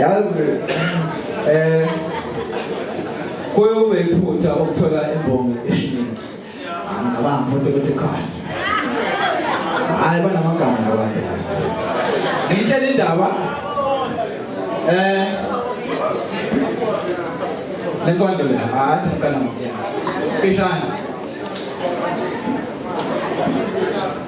yazi eh kuyube iphutha ukuthola imbongi eshiningi angicabangi futhi ukuthi khona hayi banamagama labantu ngitshela indaba eh lenkonto le hayi ngicela ngiyena fishane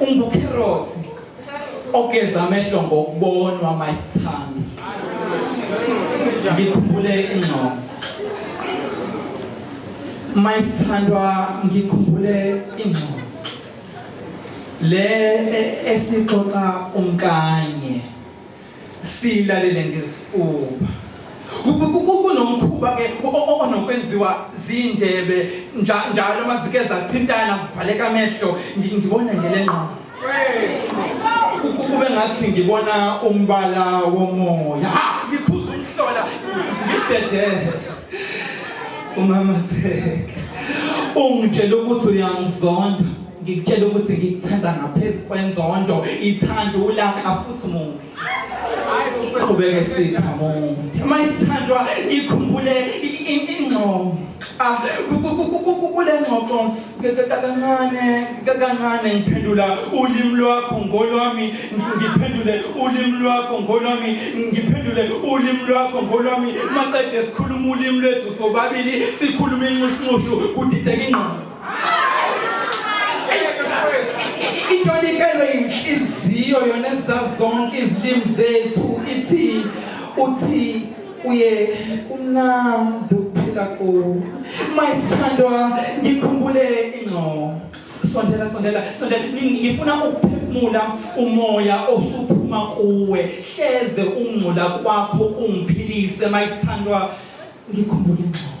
ungukherothi ogeza amehlo ngokubonwa mayisithando ngikhumbule ingcono mayisithandwa ngikhumbule ingcono le e, esixoxa umkanye silalele ngesifuba kunomkhuba-ke onokwenziwa ziy'ndebe njalo uma zike zathintana kuvaleka amehlo ngibona ngele ngqondo kube ngathi ngibona umbala womoya ngikhuza umhlola ngidedehe umama theke ungitshela ukuthi uyangizonda ngikutshela ukuthi ngikuthanda ngaphezu kwenzondo ithanda ulaka futhi muhle qhubeke sitha muhle uma isithandwa ikhumbule ingqondo ah, kule ngxoxo kancane kancane ngiphendula ulimi lwakho ngolwami ngiphendule ulimi lwakho ngolwami ngiphendule ulimi lwakho ngolwami maqede sikhuluma ulimi lwethu sobabili sikhuluma inxushunxushu kudideka ingqondo into likelwe inhliziyo yona ezazonke izilimi zethu ithi uthi kuye kumnandi ukuphila ku my thandwa ngikhumbule ingcobo sondela sondela sondela ngifuna ukuphefumula umoya osuphuma kuwe hleze ungcola kwakho kungiphilise my thandwa ngikhumbule ingcobo